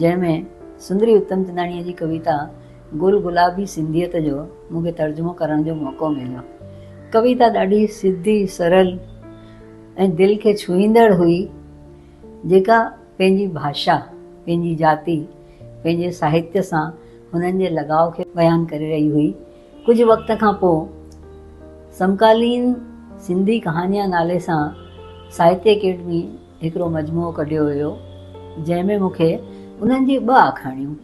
جنهن ۾ سندري اتمچنداڻيء جي ڪويتا گل گلابي سنڌيت جو مون کي ترجمو ڪرڻ جو موقعو مليو. ڪويتا ڏاڍي سڌي، سرل ۽ دل کي ڇهيندڙ هئي، جيڪا پنهنجي ڀاشا، پنهنجي جاتي، پنهنجي ساهتيه سان هنن جي لڳاء کي بيان ڪري رهي هئي. ڪجهه وقت کان پوء سمڪالين سنڌي ڪهاڻيان نالي سان ساهتيه اڪيڊمي هڪڙو مجموعو ڪڍيو هيو جنهن ۾ مون کي انهن جي ٻه آکاڻيون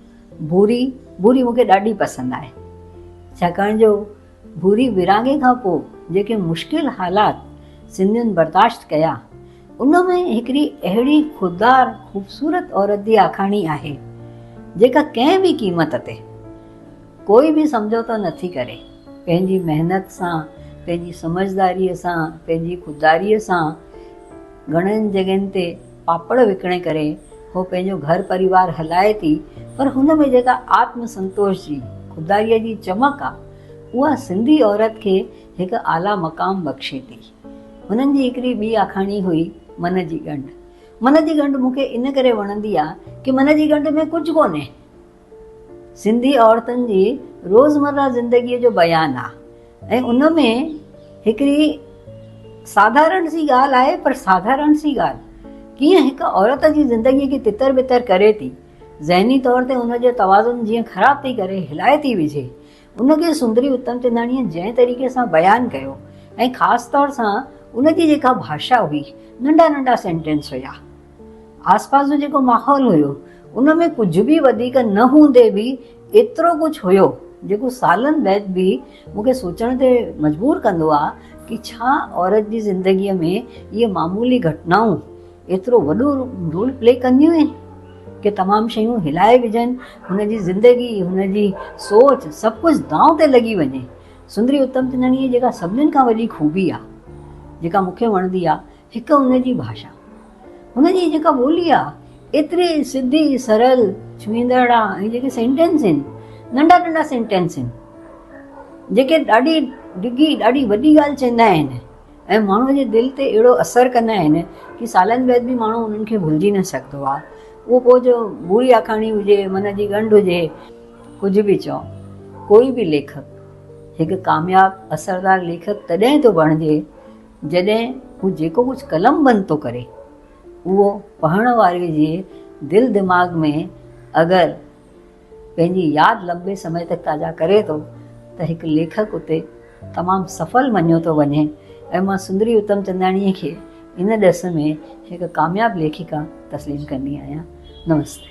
ڀوري ڀوري مون کي ڏاڍي پسند آهي ڇاڪاڻ جو ڀوري ورهاڱي کان پوء جيڪي مشڪل حالات سنڌين برداشت ڪيا ان ۾ هڪڙي اهڙي خوددار خوبصورت عورت جي آکاڻي آهي جيڪا ڪنهن به قيمت تي ڪوئي به سمجهوتو نه ٿي ڪري، پنهنجي محنت سان، پنهنجي سمجهداريء سان، پنهنجي خودداريء سان گهڻين جڳهين تي پاپڙ وڪڻي ڪري هوء پنهنجو گهر پريوار هلائي ٿي پر هن ۾ جيڪا آتم سنتوش جي خودداريء جي چمڪ آ اها سنڌي عورت کي هڪ اعليٰ مقام بخشي ٿي. هنن جي هڪڙي ٻي آکاڻي هئي من جي ڳنڍ. من جي ڳنڍ مون کي ان ڪري وڻندي آ ڪي من جي ڳنڍ ۾ ڪجهه ڪونهي. سنڌي عورتن جي روزمره زندگي جو بيان آ ۽ ان ۾ هڪڙي ساڌارڻ سي ڳالهه آهي پر ساڌارڻ سي ڳالهه ڪيئن هڪ عورت جي زندگي کي تتر بتر ڪري ٿي ذهني طور تي ان جو توازن جيئن خراب ٿي ڪري هلائي ٿي وجهي ان کي سندري اتمچنداڻيء جنهن طريقي سان بيان ڪيو ۽ خاص طور سان ان جي جيڪا ڀاشا هئي، ننڍا ننڍا سينٽينس هيا. آس پاس جو جيڪو ماحول هيو، ان ۾ ڪجهه به وڌيڪ نه هوندي به ايترو ڪجهه هيو، جيڪو سالن بعد به مون کي سوچڻ تي مجبور ڪندو آهي ته ڇا عورت جي زندگيء ۾ اهي معمولي گهٽنائون ايترو وڏو رول پلي ڪنديون آهن ڪي تمام شيون هلائي وجهن هن جي زندگي هن جي سوچ سڀ ڪجهه دانء تي لڳي وڃي سندري اتم چنداڻي جيڪا سڀنين کان وڏي خوبي آهي جيڪا مون کي وڻندي آهي هڪ هن جي ڀاشا هن جي جيڪا ٻولي آهي ايتري سڌي سرل ڇوئيندڙ آهي ۽ جيڪي سينٽينس آهن ننڍا ننڍا سينٽينس آهن جيڪي ڏاڍي ڊگهي ڏاڍي وڏي ڳالهه چوندا آهن ۽ ماڻهوء جي دل تي اهڙو اثر ڪندا آهن ڪي سالن بعد به ماڻهو انهن کي ڀلجي نه سگهندو آهي اهو پوء جو بوري آکاڻي هجي من جي ڳنڍ هجي ڪجهه به چئو ڪوئي به ليکڪ هڪ ڪامياب اثردار ليکڪ تڏهن ٿو بڻجي جڏهن هو جيڪو ڪجهه قلم بند ٿو ڪري اهو پڙهڻ واري جي دل دماغ ۾ اگر پنهنجي ياد لنبي سمي تڪ تازا ڪري ٿو ته هڪ ليکڪ اتي تمام سڦل مڃيو ٿو وڃي ۽ مان سندري اتمچنداڻيء کي ان ڏس ۾ هڪ ڪامياب ليکڪا تسليم ڪندي آهيان. نمستي.